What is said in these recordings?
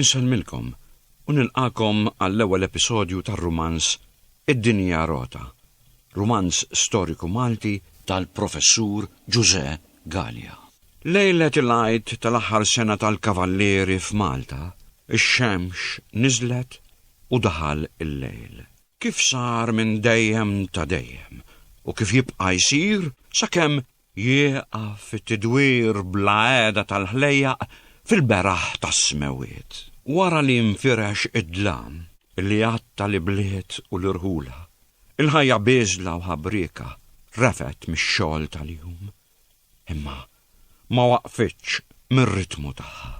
Insellmilkom u nilqagħkom għall-ewwel episodju tar-rumanz Id-Dinja Rota, rumanz storiku Malti tal-Professur Ġużè Galea. Lejlet il-Għid tal-aħħar sena tal-Kavallieri f'Malta, ix-xemx niżlet u daħal il-lejl. Kif sar minn dejjem ta' dejjem u kif jibqa' jsir sakemm Jieqaf it-tidwir bla qiegħda tal-ħlejjaq fil-beraħ tas-smewwiet. Wara li nfirex id-dlam li għatta l-ibliet u l-irħula, il-ħajja bieżla u ħabrieka refgħet mix-xogħol tal-jum, imma ma waqfitx mir-ritmu tagħha.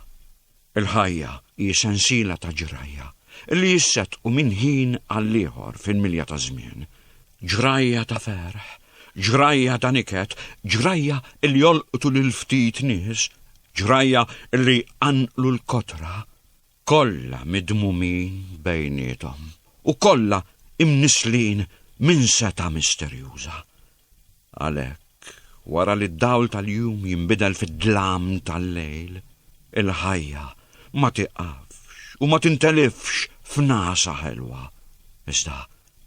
Il-ħajja hi sensiela ta' ġrajja li jissettqu minn ħin għall-ieħor fil-milja taż-żmien. Ġrajja ta' ferħ, ġrajja ta' niket, ġrajja li jolqtu lil ftit nies, ġrajja li jqanqlu l-kotra, kollha midmumin bejniethom u kollha imnisslin minn setgħa misterjuża. Għalhekk, wara li d-dawl tal-jum jinbidel fid-dlam tal-lejl, il-ħajja ma tieqafx u ma tintelifx f'nagħsa ħelwa, iżda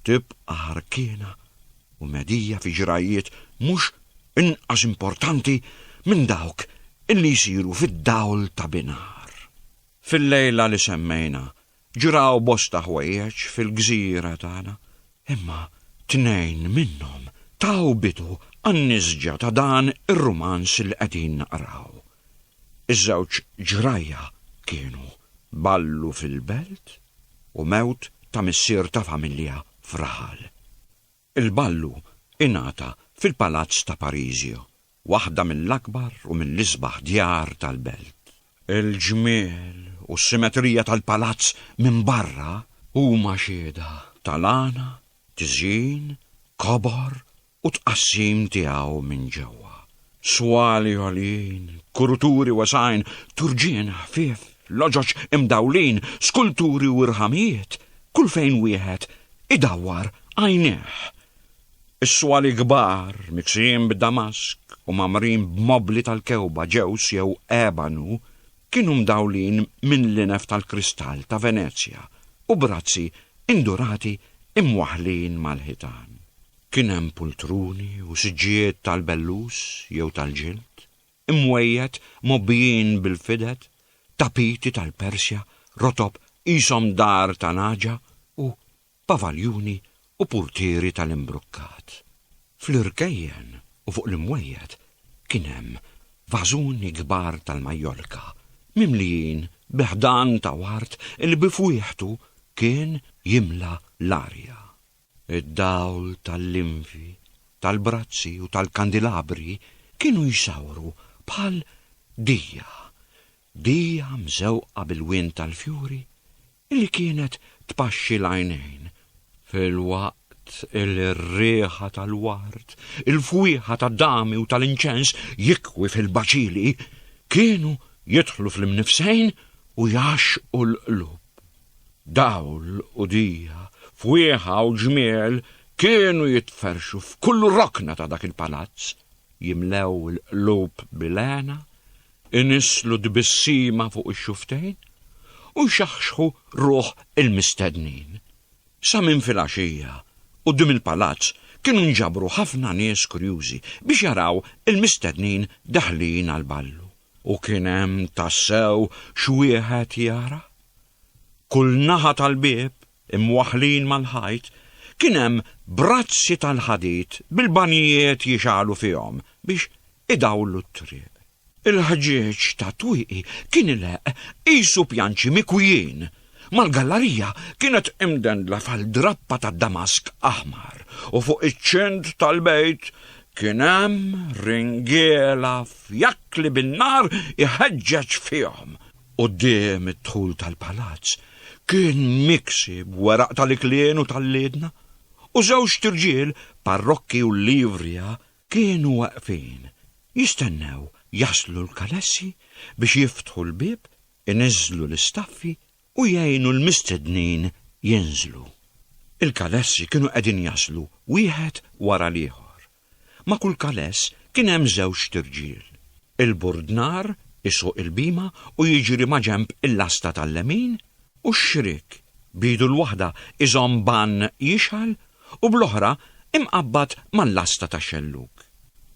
tibqa' ħarkiena u medija fi ġrajjiet mhux inqas importanti minn dawk illi jsiru fid-dawl ta' binhar. Fil-lejla li semmejna, Ġraw bosta ħwejjeġ fil-gżira tagħna, imma tnejn minnhom taw bidu għan-nisġa ta' dan ir-rumanz li qegħdin naqraw. Iż-żewġ ġrajja kienu Ballu fil-Belt u mewt ta' missier ta' familja f'raħal. Il-ballu ingħata fil-Palazz ta' Parisio, waħda mill-akbar u mill-isbaħ djar tal-belt. Il-ġmiel u s-simetrija tal-palazz minn barra huma xhieda tal-għana, tiżjin, kobor u tqassim tiegħu minn ġewwa. Swali għolin, kuruturi wesgħin, turġien ħfief, loġoġ imdawlin, skulturi u rħamijiet, kull fejn wieħed idawwar għajnejh. Is-swali kbar, miksijin b'damask u magħmrin b'mobbli tal-kewba, ġews jew ebanu, kienu mdawlin minn linef tal-kristall ta' Venezja u b'razzi indurati imwaħħlin mal-ħitan. Kien hemm pultruni u siġġijiet tal-bellus jew tal-ġild, imwejjed mgħobbijin bil-fided, tapiti tal-Persja, rotob qishom dar ta' nagħġa u pavaljuni u purtieri tal-imbrukkat. Fl-irkejjen u fuq l-imwejjed kien hemm vażuni kbar tal-Majjolka mimlijin bi ħdan ta' ward li bi fwieħtu kien jimla l-arja. Id-dawl tal-linfi, tal-brazzi u tal-kandilabri kienu jsawru bħal dija, dija mżewqa bil-wien tal-fjuri li kienet tpaxxi l-għajnejn, filwaqt li r-riħa tal-ward, il-fwieħa tad-dami u tal-inċens jikwi fil-baċili kienu jidħlu fl-imnifsejn u jgħaxxqu l-qlub. Dawl u dija, fwieħa u ġmiel kienu jitferrxu f'kull rokna ta' dak il-palazz, jimlew il-qlub bil-hena, inisslu tbissima fuq ix-xufftejn u jxaħxħu ruħ il-mistednin. Sa minn filgħaxija, quddiem il-palazz kienu nġabru ħafna nies kurjużi biex jaraw il-mistednin daħlin għall-ballu. U kien hemm tassew x'wieħed jara? Kull naħa tal-bieb, imwaħħlin mal-ħajt, kien hemm brazzi tal-ħadid bil-banjijiet jixgħalu fihom biex idawlu t-triq. Il-ħġieġ tat-twieqi kien ileqq qisu pjanċi mikwijin, mal-gallarija kienet imdendla fal-drappa tad-damask aħmar u fuq iċ-ċint tal-bejt kien hemm ringiela fjakkli bin-nar iħeġġeġ fihom. Quddiem id-dħul tal-palazz kien miksi b'weraq tal-iklien u tal-liedna, u żewġt irġiel parrokki u livrija kienu waqfin, jistennew jaslu l-kalessi biex jiftħu l-bieb, iniżżlu l-istaffi u jgħinu l-mistednin jinżlu. Il-kalessi kienu qegħdin jaslu wieħed wara l-ieħor. Ma' kull kaless kien hemm żewġt irġiel. Il-burdnar isuq il-bhima u jiġri maġenb il-lasta tal-lemin u x-xriek, b'idu l-waħda iżomm bann jixgħal u bl-oħra imqabbad mal-lasta tax-xellug.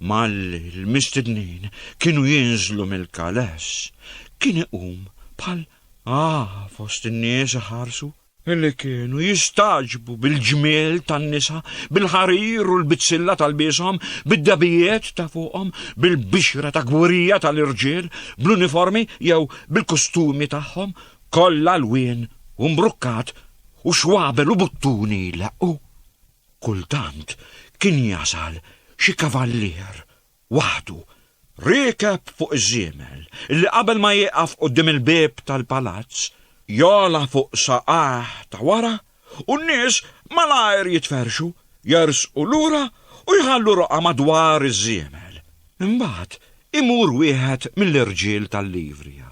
Malli l-mistednin kienu jinżlu mill-kaless, kien iqum bħal għaha fost in-nies iħarsu. Illi kienu jistagħġbu bil-ġmiel tan-nisa, bil-ħarir u l-bizzilla tal-bieshom, bid-dabijiet ta' fuqhom, bil-bixra ta' gwirija tal-irġiel, bl-uniformi jew bil-kustumi tagħhom, kollha lwien u mbrukkat u xwabel u buttuni jleqqu. Kultant kien jasal xi kavallier waħdu, riekeb fuq iż-żiemel, li qabel ma jieqaf quddiem il-bieb tal-palazz, jogħla fuq saqajh ta' wara u n-nies malajr jitferrxu, jersqu lura u jħallu roqgħa madwar iż-żiemel. Imbagħad imur wieħed mill-irġiel tal-livrija,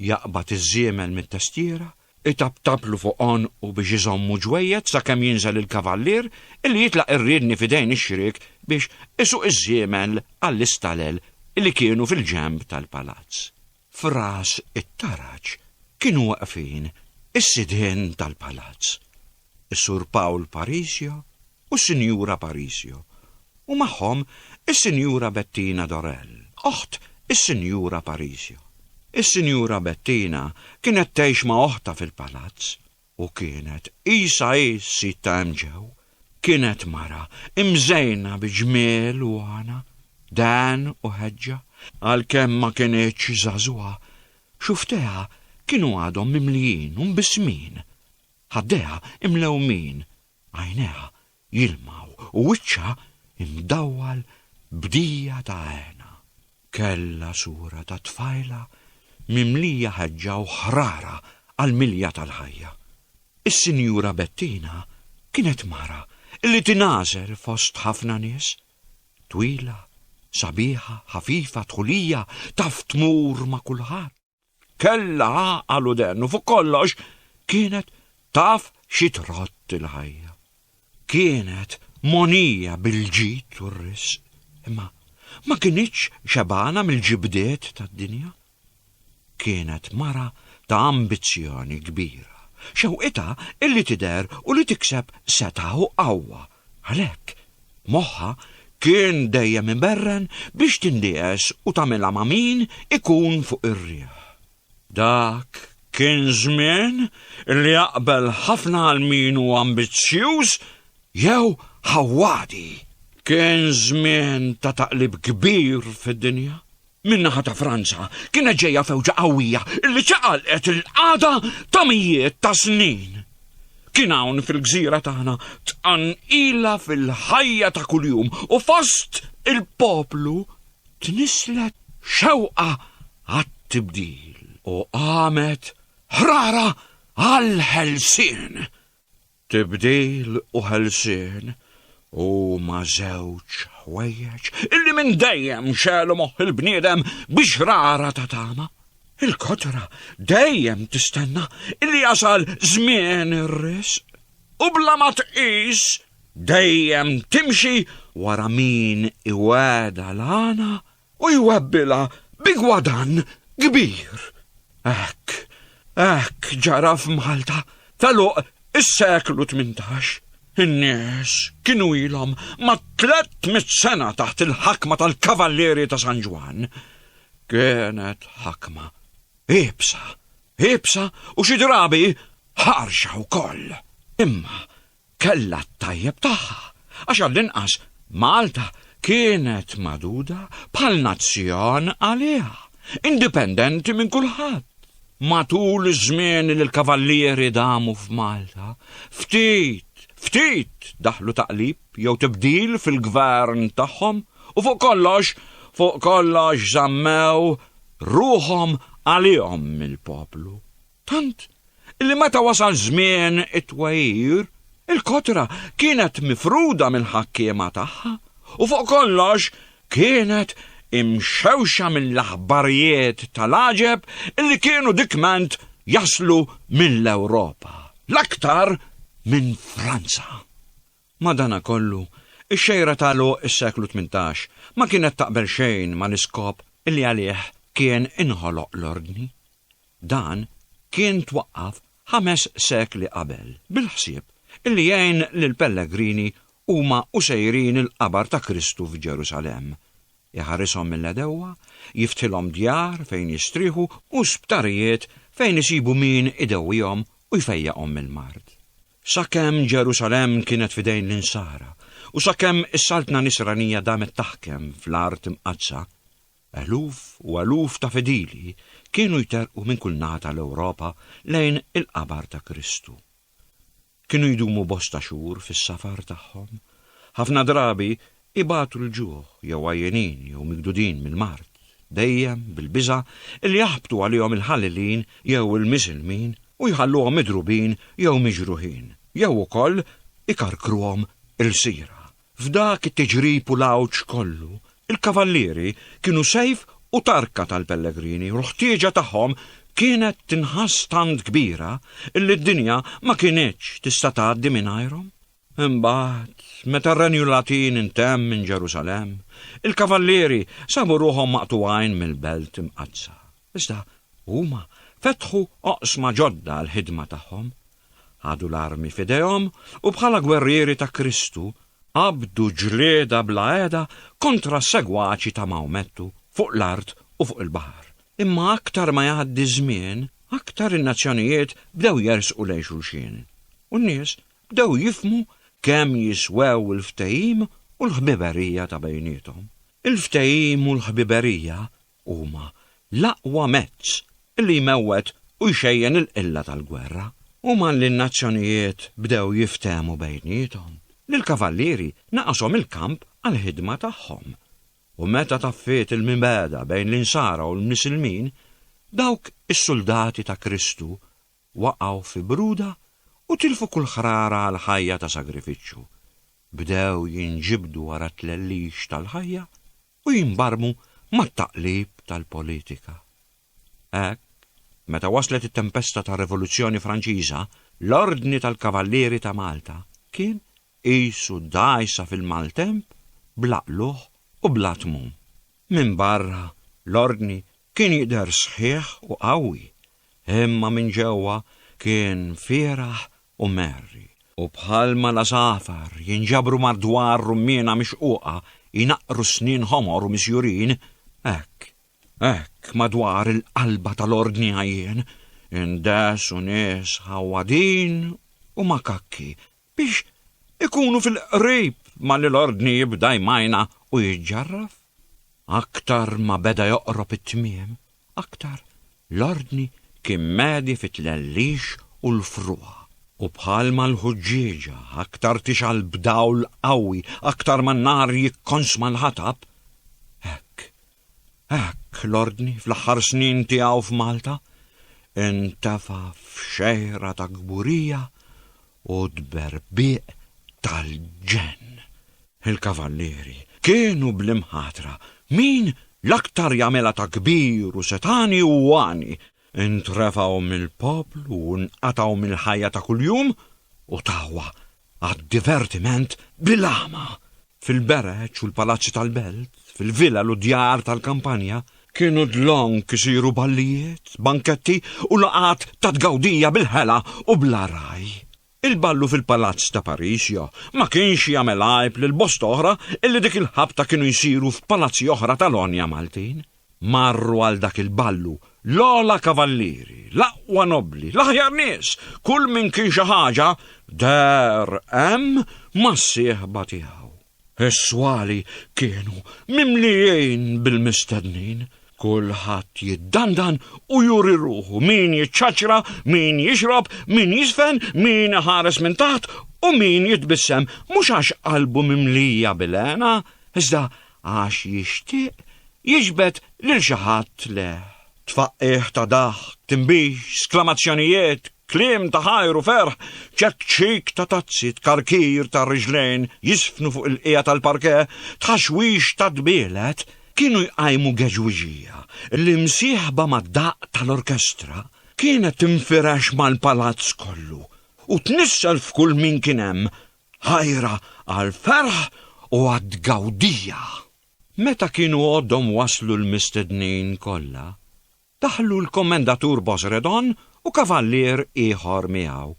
Jaqbad iż-żiemel mit-testiera, itaptablu fuq għonqu biex iżommu ġwejjed sakemm jinżel il-kavallier li jitlaq ir-riedni f'idejn ix-xriek biex isuq iż-żiemel għall-istalel li kienu fil-ġenb tal-palazz. F'ras it-taraġ kienu waqfin is-sidien tal-palazz. is-Sur Paul Parisio u s-Sinjura Parisio, u magħhom is-Sinjura Bettina Dorell, oħt is-Sinjura Parisio. Is-Sinjura Bettina kienet tgħix ma' oħtha fil-palazz u kienet qisha hi s-sid ta' hemm ġew. Kienet mara imżejna bi ġmiel u għana, dehn u ħeġġa. Għalkemm ma kinitx żagħżugħa, xufftejha kienu għadhom mimlijin u mbissmin. Ħaddejha imlewmin, għajnejha jilmgħu u wiċċha imdawwal b'dija ta' hena. Kellha sura ta' tfajla mimlija ħeġġa u ħrara għall-milja tal-ħajja. Is-Sinjura Bettina kienet mara li tingħażel fost ħafna nies. Twila, sabiħa, ħafifa, dħulija, taf tmur ma' kulħadd. Kellha għaqal u den u fuq kollox kienet taf xi trott il-ħajja. Kienet monija bil-ġid u r-risq, imma ma kinitx xebgħana mill-ġibdiet tad-dinja. Kienet mara ta' ambizzjoni kbira, xewqitha illi tidher u li tikseb setgħa u qawwa Għalhekk, moħħha kien dejjem iberren biex tindies u tagħmilha ma' min ikun fuq ir-riħ. Dak kien żmien li jaqbel ħafna għal min hu ambizzjuż jew ħawwadi. Kien żmien ta' taqlib kbir fid-dinja. min-naħa ta' Franza kienet ġejja fewġa qawwija li ċaqalqet il-qagħda ta' mijiet ta' snin. Kien hawn fil-gżira tagħna tqanqila fil-ħajja ta' kuljum u fost il-poplu tnisslet xewqa għat-tibdil u qamet ħrara għall-ħelsien. Tibdil u ħelsien huma żewġ ħwejjeġ illi minn dejjem xelu moħħ il-bniedem bi xrara ta' tama. Il-kotra dejjem tistenna illi jasal żmien ir-risq u bla ma tqis dejjem timxi wara min iweda l-għana u jwebbilha bi gwadann kbir. Hekk, hekk ġara f'Malta tal-għoq is-seklu tmintax. In-nies kienu ilhom ma' tlett mitt sena taħt il-ħakma tal-Kavallieri ta' San Ġwann. Kienet ħakma iebsa, iebsa u xi drabi ħarxa wkoll. Imma kellha t-tajjeb tagħha, għax għall-inqas Malta kienet magħduda bħal nazzjon għaliha, indipendenti minn kulħadd. Matul iż-żmien li l-Kavallieri damu f'Malta, ftit, ftit daħlu taqlib jew tibdil fil-gvern tagħhom u fuq kollox, fuq kollox żammew ruħhom għalihom mill-poplu. Tant li meta wasal żmien it-twegħir, il-kotra kienet mifruda mill-ħakkiema tagħha u fuq kollox kienet imxewxa mill-aħbarijiet tal-għaġeb li kienu dikment jaslu mill-Ewropa, l-aktar minn Franza. Madanakollu, ix-xejra ta' għeluq is-seklu tmintax ma kienet taqbel xejn mal-iskop li għalih kien inħoloq l-Ordni. Dan kien twaqqaf ħames sekli qabel bil-ħsieb li jgħin lill-pellegrini huma u sejrin il-qabar ta' Kristu f'Ġerusalemm, iħarishom mill-għedewwa, jiftħilhom djar fejn jistrieħu u sptarijiet fejn isibu min idewwihom u jfejjaqhom mill-mard. Sakemm Ġerusalemm kienet f'idejn l-Insara u sakemm is-Saltna Nisranija damet taħkem fl-Art Imqaddsa, eluf u eluf ta' fidili kienu jterrqu minn kull naħa tal-Ewropa lejn il-qabar ta' Kristu. Kienu jdumu bosta xhur fis-safar tagħhom, ħafna drabi ibatu l-ġuħ jew għajjenin jew migdudin mill-mard, dejjem bil-biża' li jaħbtu għalihom il-Ħalilin jew il-Miżilmin u jħalluhom midrubin jew miġruħin, jew ukoll ikarkruhom ilsira. F'dak it-tiġrib u l-għawġ kollu, il-kavallieri kienu sejf u tarka tal-pellegrini u l-ħtieġa tagħhom kienet tinħass tant kbira illi d-dinja ma kinitx tista' tgħaddi mingħajrhom. Imbagħad, meta r-Renju Latin intemm minn Ġerusalemm, il-kavallieri sabu ruħhom maqtugħin mill-Belt Imqaddsa. Iżda huma fetħu oqsma ġodda għall-ħidma tagħhom. Ħadu l-armi f'idejhom u bħala gwerrieri ta' Kristu qabdu ġlieda bla qiegħda kontra s-segwaċi ta' Maomettu fuq l-art u fuq il-baħar. Imma aktar ma jgħaddi ż-żmien, aktar in-nazzjonijiet bdew jersqu lejn xulxin, u n-nies bdew jifhmu kemm jiswew il-ftehim u l-ħbiberija ta' bejniethom. Il-ftehim u l-ħbiberija huma l-aqwa mezz li jmewwet u jxejjen il-qilla tal-gwerra. Huma li n-nazzjonijiet bdew jiftehmu bejniethom. Lill-kavallieri naqashom il-kamp għall-ħidma tagħhom. U meta taffiet il-mibegħda bejn l-Insara u l-Misilmin, dawk is-suldati ta' Kristu waqgħu fi bruda u tilfu kull ħrara għal ħajja ta' sagrifiċċju, bdew jinġibdu wara t-tlellix tal-ħajja u jinbarmu mat-taqlib tal-politika. Hekk, meta waslet it-tempesta tar-Rivoluzzjoni Franċiża, l-Ordni tal-Kavallieri ta' Malta kien qisu dgħajsa fil-maltemp bla qlugħ u bla tmun. Minbarra, l-Ordni kien jidher sħiħ u qawwi, imma minn ġewwa kien fieragħ u merri. U bħalma l-għasafar jinġabru madwar rummiena mixquqa jnaqqru snien ħomor u misjurin, hekk, hekk madwar il-qalba tal-Ordni għajjien indehsu nies ħawwadin u makakki biex ikunu fil-qrib malli l-ordni jibda jmajna u jiġġarraf. Aktar ma beda joqrob it-tmiem, aktar l-ordni kien medi fit-tlellix u l-frugħa. U bħalma l-ħuġġieġa aktar tixgħal b'dawl qawwi aktar ma n-nar jikkonsma l-ħatab, hekk Hekk l-Ordni fl-aħħar snin tiegħu f'Malta intefa' f'xejra ta' kburija u tberbieq tal-ġenn. Il-Kavallieri kienu bl-imħatra min l-aktar jagħmilha ta' kbir u setgħani u għani, intrefgħu mill-poplu u nqatgħu mill-ħajja ta' kuljum u tawa għad-divertiment bil-għama. Fil-bereġ u l-palazzi tal-belt, fil-villa u djar tal-kampanja, kienu dlonk isiru ballijiet, banketti u laqat ta' tgawdija bil-ħela u bla raj. Il-ballu fil-Palazz ta' Parisio ma kienx jagħmel għajb lil bosta oħra illi dik il-ħabta kienu jsiru f'palazzi oħra tal-għonja Maltin. Marru għal dak il-ballu l-ogħla kavallieri, l-aqwa nobbli, l-aħjar nies, kull min kien xi ħaġa, deher hemm mas-sieħba tiegħu. Is-swali kienu mimlijin bil-mistednin. Kulħadd jiddandan u juri ruħu, min jiċċaċċra, min jixrob, min jiżfen, min iħares minn taħt u min jitbissem, mhux għax qalbu mimlija bil-għena, iżda għax jixtieq jiġbed lil xi ħadd leh. Tfaqqigħ ta' daħk, tinbix, sklamazzjonijiet, kliem ta' ħajr u ferħ, ċekċik ta' tazzi, tkarkir ta' riġlejn jiżfnu fuq il-qiegħa tal-parke, tħaxwix ta' dbielet, kienu jqajmu geġwiġija li msieħba mad-daqq tal-orkestra kienet tinfirex mal-palazz kollu u tnissel f'kull min kien hemm, ħajra għall-ferħ u għat-tgawdija. Meta kienu għoddhom waslu l-mistednin kollha, daħlu l-Kommendatur Bosredon u kavallier ieħor miegħu,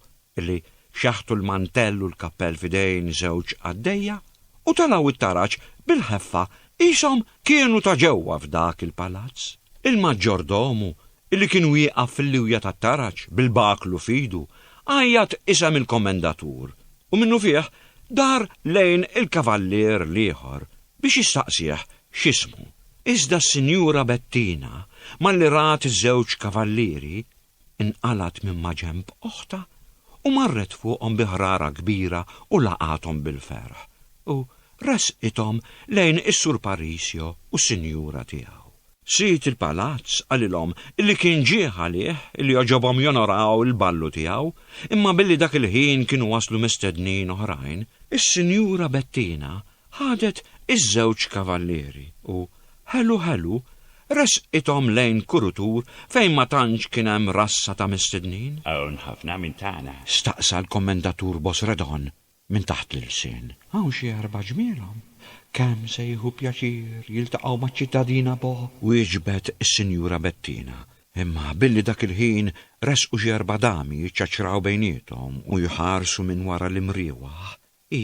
li xaħtu l-mantell u l-kappell f'idejn żewġ qaddejja u telgħu it-taraġ bil-ħeffa qishom kienu ta' ġewwa f'dak il-palazz. Il-maġġordomu, li kien wieqaf fil-liwja tat-taraġ bil-baklu f'idu, għajjat isem il-Kommendatur u minnufih dar lejn il-kavallier l-ieħor biex jistaqsih x'ismu, iżda s-Sinjura Bettina, malli rat iż-żewġ kavallieri, inqalgħet minn maġenb oħtha u marret fuqhom bi ħrara kbira u laqathom bil-ferħ, u ressqithom lejn is-Sur Parisio u s-Sinjura tiegħu. Sid il-palazz qalilhom illi kien ġieħ għalih illi għoġobhom jonoraw il-ballu tiegħu, imma billi dak il-ħin kienu waslu mistednin oħrajn, is-Sinjura Bettina ħadet iż-żewġ kavallieri u, ħelu ħelu, ressqithom lejn kurutur fejn ma tantx kien hemm rassa ta' mistednin. Hawn ħafna minn tagħna? staqsa l-Kommendatur Bosredon. Minn taħt l-ilsien hawn xi erba' ġmielhom. Kemm se jieħu pjaċir jiltaqgħu maċ-ċittadina Bo! wieġbet is-Sinjura Bettina. Imma billi dak il-ħin resqu xi erba' dami jiċċaċċraw bejniethom u jħarsu minn wara l-imriewaħ, hi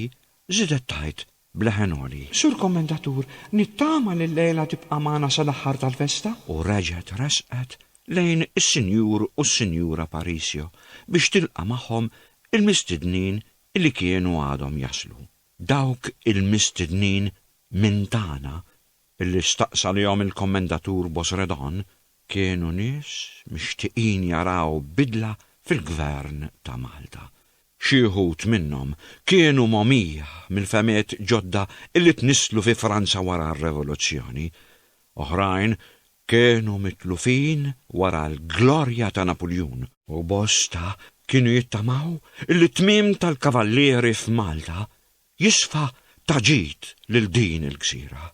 żiedet tgħid b'leħen għoli. Sur Kommendatur, nittama li llejla tibqa' magħna sal-aħħar tal-festa! U reġgħet resqet lejn is-Sinjur u s-Sinjura Parisio biex tilqa' magħhom il-mistednin li kienu għadhom jaslu. Dawk il-mistednin minn tagħna li staqsa lihom il-Kommendatur Bosredon kienu nies mixtieqin jaraw bidla fil-Gvern ta' Malta. Xi wħud minnhom kienu mogħmija mill-fehmiet ġodda li tnisslu fi Franza wara r-Revoluzzjoni. Oħrajn Kienu mitlufin wara l-glorja ta' Napuljun. U bosta kienu jittamaw li t-tmiem tal-kavallieri f'Malta jisfa ta' ġid lil din il-gżira.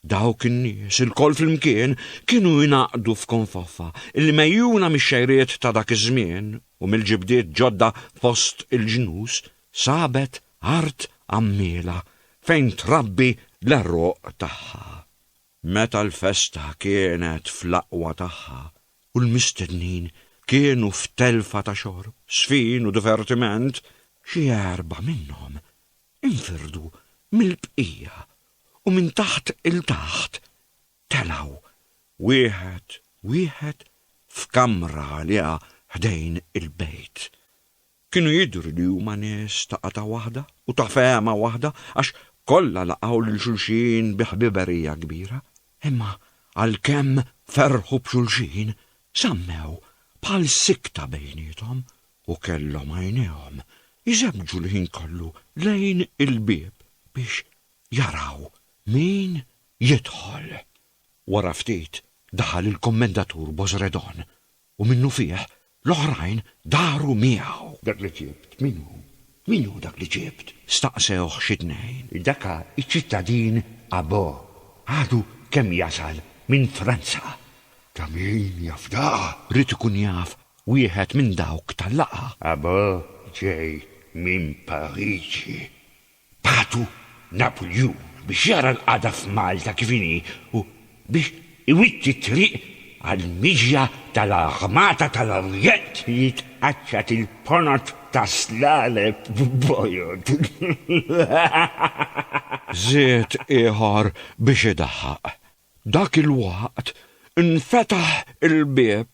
Dawk in-nies ilkoll flimkien kienu jingħaqdu f'konfoffa li megħjuna mix-xejriet ta' dak iż-żmien u mill-ġibdiet ġodda fost il-ġnus sabet art għammiela fejn trabbi l-għeruq tagħha. Meta l-festa kienet fl-aqwa tagħha u l-mistednin kienu f'telfa ta' xorb, żfin u divertiment, xi erba' minnhom infirdu mill-bqija u minn taħt 'il taħt telgħu wieħed wieħed f'kamra għaliha ħdejn il-bejt. Kienu jidhru li huma nies ta' qatgħa waħda u ta' fehma waħda għax kollha laqgħu lil xulxin bi ħbiberija kbira. Imma għalkemm ferrħu b'xulxin, żammew bħal sikta bejniethom u kellhom għajnejhom jżebbġu l-ħin kollu lejn il-bieb biex jaraw min jidħol. Wara ftit daħal il-Kummendatur Bozredon U minnufih l-oħrajn daru miegħu. Dak li ġibt, min hu? Min hu dak li ġibt? staqsewh xi tnejn. Daka ċ-ċittadin Abo. Għadu kemm jasal minn Franza. Ta' min jaf daka? Ried ikun jaf wieħed minn dawk tal-laqgħa. Abo ġej minn Pariġi. Bagħtu Napuljun biex jara l-qagħda f'Malta kif inhi u biex iwitti t-triq għall-miġja tal-Armata tal-Orjent li tqaċċat il-ponot ta' Slaleb b'bojod. Żied ieħor biex idaħħaq. Dak il-waqt infetaħ il-bieb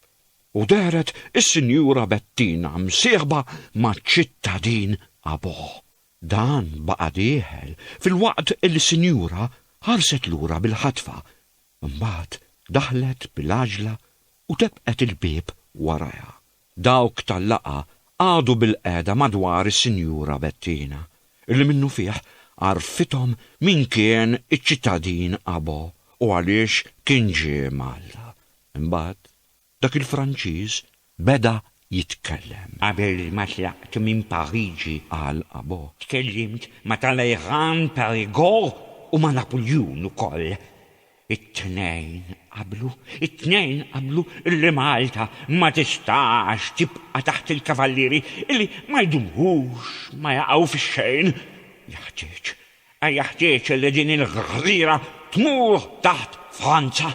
u dehret is-Sinjura Bettina msieħba maċ-ċittadin Abogħ. Dan baqa' dieħel filwaqt li sinjura ħarset lura bil-ħatfa, imbagħad daħlet bil-għaġla u tebqet il-bieb warajha. Dawk tal-laqgħa qagħdu bilqiegħda madwar is-Sinjura Bettina, li minnufih għarfithom min kien iċ-ċittadin Abo u għaliex kien ġie Malta. Imbagħad Dak il-Franċiż beda jitkellem. Qabel ma tlaqt minn Pariġi, qal Abo, tkellimt ma' Talleyrand, Perigord u ma' Napuljun ukoll. It-tnejn qablu, it-tnejn qablu li Malta ma tistax tibqa' taħt il-Kavallieri, illi ma jdumux, ma jaqgħu fix-xejn. Jeħtieġ A Jeħtieġ li din il-gżira tmur taħt Franza.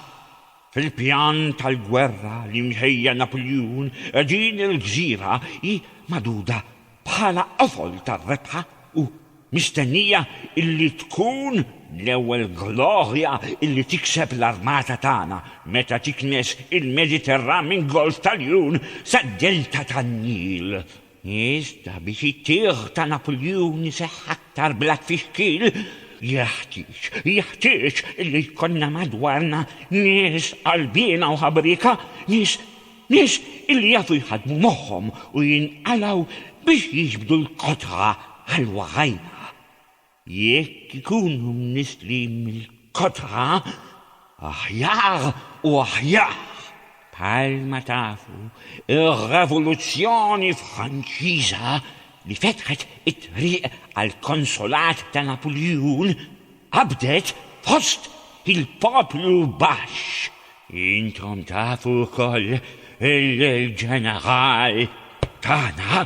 Fil-pjan tal-gwerra li mħejja Napuljun, din il-gżira hi magħduda bħala qofol tar-rebħa u mistennija illi tkun l-ewwel glorja illi tikseb l-armata tagħna meta tiknes il-Mediterran minn Golf tal-Jun sa Delta tan-Nil Iżda biex it-tieħ ta' Napuljun iseħħ aktar bla tfixkil, jeħtieġ, jeħtieġ illi jkollna madwarna nies qalbiena u ħabrieka, nies, nies illi jafu jħaddmu moħħhom u jinqalgħu biex jiġbdu l-kotħa ħalwa ħajja. Jekk ikunu mniżżli mill-kotra, aħjar u aħjar. Bħalma tafu, ir-Revoluzzjoni Franċiża li fetħet it-triq għall-konsulat ta' Napuljun qabdet fost il-poplu baxx. Intom tafu wkoll li l-ġeneral tagħna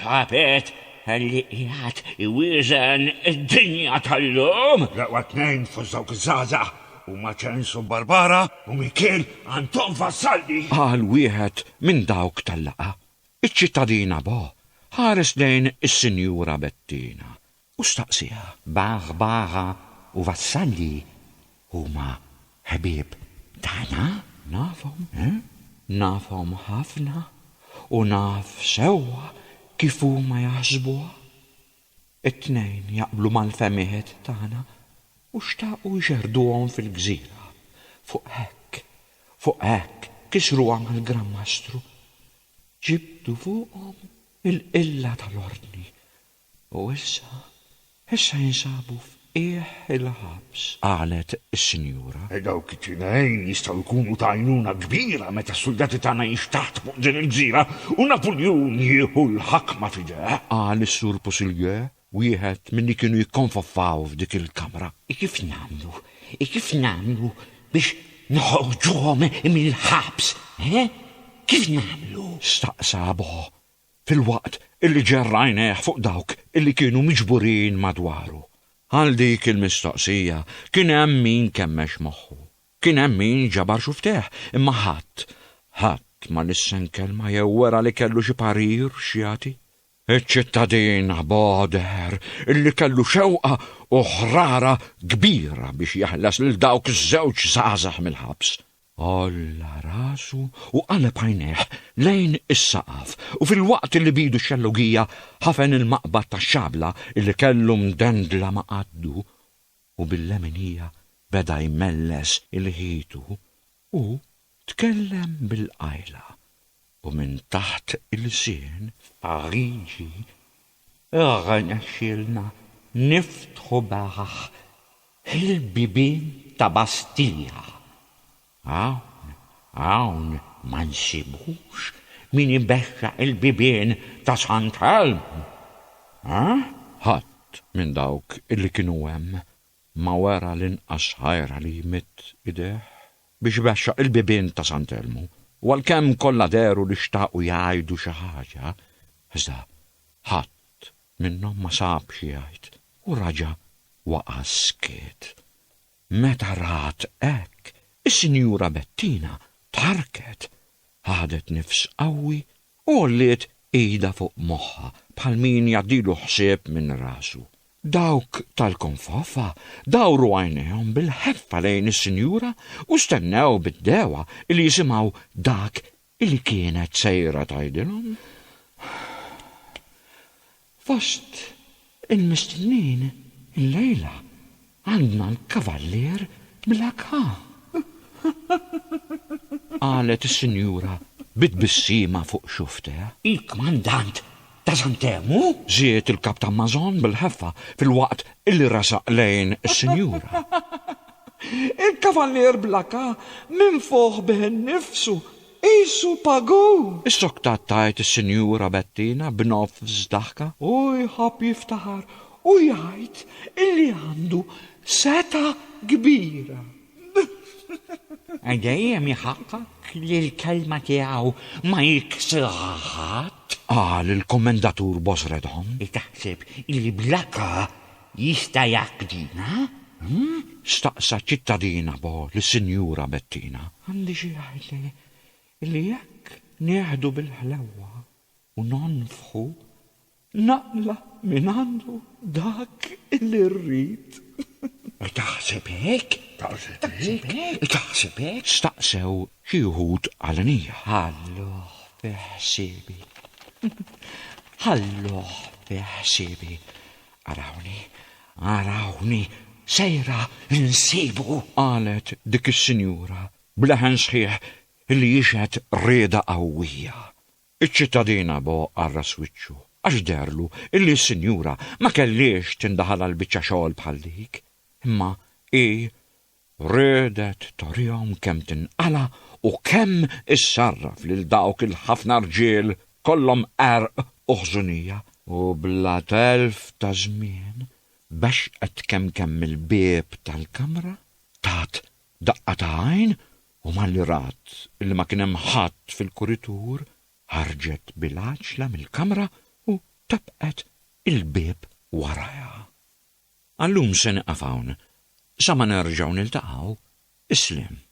Tħabet li qiegħed iwieżen id-dinja tal-lum. L-eqwa tnejn fost dawk iż-żgħażagħ huma Ċens u Barbara u min kien Anton Vassalli. Qal wieħed minn dawk tal-laqgħa. Iċ-ċittadina Bo ħares lejn is-Sinjura Bettina U staqsiha. B'aħbara u vassalli huma ħbieb tagħna? Nafhom, nafhom ħafna u naf sewwa kif huma jaħsbuha. It-tnejn jaqblu mal-fehmiet tagħna u xtaqu jxerrduhom fil-gżira. Fuq hekk, fuq hekk kisruha mal-Gran Mastru. Ġibdu fuqhom il-qilla tal-Ordni U issa, issa jinsabu f'qiegħ il-ħabs, qalet is-Sinjura. Dawk it-tnejn jistgħu jkunu ta' għajnuna kbira meta s-suldati tagħna jinxtaħtu fuq din il-gżira u Napuljun jieħu l-ħakma f'idejh. Qal is-Sur Pousillieu, wieħed minn li kienu jikkonfoffaw f'dik il-kamra. Kif nagħmlu, kif nagħmlu biex noħorġuhom mill-ħabs, he? Kif nagħmlu? Staqsa Bo, filwaqt li ġerr għajnejh fuq dawk li kienu miġburin madwaru. Għal dik il-mistoqsija kien hemm min kemmex moħħu. Kien hemm min ġabar xufftejh, imma ħadd, ħadd ma lissen kelma jew wera li kellu xi parir x'jagħti. Iċ-ċittadin Abo deher li kellu xewqa u ħrara kbira biex jeħles lil dawk iż-żewġ żgħażagħ mill-ħabs. Għolla rasu u qaleb għajnejh lejn is-saqaf u filwaqt li b'idu x-xellugija ħafen il-maqbad tax-xabla li kellu mdendla ma' qaddu u bil-leminija beda jmelles il-ħitu, hu tkellem bil-qajla u minn taħt ilsien, F'Pariġi Irnexxielna niftħu beraħ il-bibien ta' Bastija. Hawn, hawn ma nsibux min ibexxaq il-bibien ta' Sant'Elmu? Ħadd minn dawk li kienu hemm ma wera l-inqas ħajra li jmidd idejh biex ibexxaq il-bibien ta' San Telmu, u għalkemm kollha dehru li xtaqu jgħidu xi ħaġa, iżda ħadd minnhom ma sab xi jgħid u raġa' waqa' skiet. Meta rat hekk, is-Sinjura Bettina tħarrket, ħadet nifs qawwi U għolliet idha fuq moħħha bħal min jgħaddilu ħsieb minn rasu. Dawk tal-konfofa dawru għajnejhom bil-ħeffa lejn is-sinjura u stennew bid-dewgħa li jisimgħu dak li kienet sejra tgħidilhom. Fost il-mistennin illejla għandna l-Kavallier Bla Kap. Qalet is-Sinjura bi tbissima fuq xufftejha. Il-Kmandant ta' Sant'Ermu? Żied il-Kap ta' Mason bil-ħeffa filwaqt li resaq lejn is-Sinjura. Il-Kavallier Bla Kap minfuħ bih innifsu Qisu pagu! Issoktat tgħid is-Sinjura Bettina b'nofs daħka. U jħobb jiftaħar u jgħid illi għandu setgħa kbira. Dejjem iħaqqaq li l-kelma tiegħu ma jiksirha ħadd. Qal il-Kummendatur Bosredhom. Taħseb illi bl-akka Jista' jaqdina? staqsa ċittadina bo lis-Sinjura Bettina. Għandi xi jgħidli li jekk nieħdu bil-ħlewwa u nonfħu, naqla' mingħandu dak li rrid. Taħseb hekk? Taħseb hekk? staqsew xi wħud għalenija. Ħalluh fi ħsiebi. Ħalluh fi ħsiebi. Arawni, arawni, sejra nsibu! qalet dik is-sinjura b'leħen sħiħ li jixhed rieda qawwija. Iċ-ċittadina bo qarras wiċċu għax deherlu li s-sinjura ma kellhiex tindaħal għal biċċa xogħol bħal dik. Imma hi Riedet torihom kemm tinqala' u kemm issarraf lil dawk il-ħafna rġiel kollhom qerq u ħżunija, u bla telf ta' żmien bexqet kemkemm il-bieb tal-kamra, tat daqqa ta' għajn u malli rat li ma kien hemm ħadd fil-kuritur, ħarġet bil-għaġġla mill-kamra u tebqet il-bieb warajha. Għallum se nieqaf hawn. Sa ma nerġgħu niltaqgħu. Islem.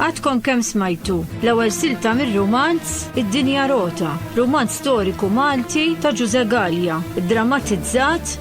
Għadkom kemm smajtu l-ewwel silta mir-rumanz Id-Dinja Rota, rumanz storiku Malti ta' Ġuże Gallia, drammatizzat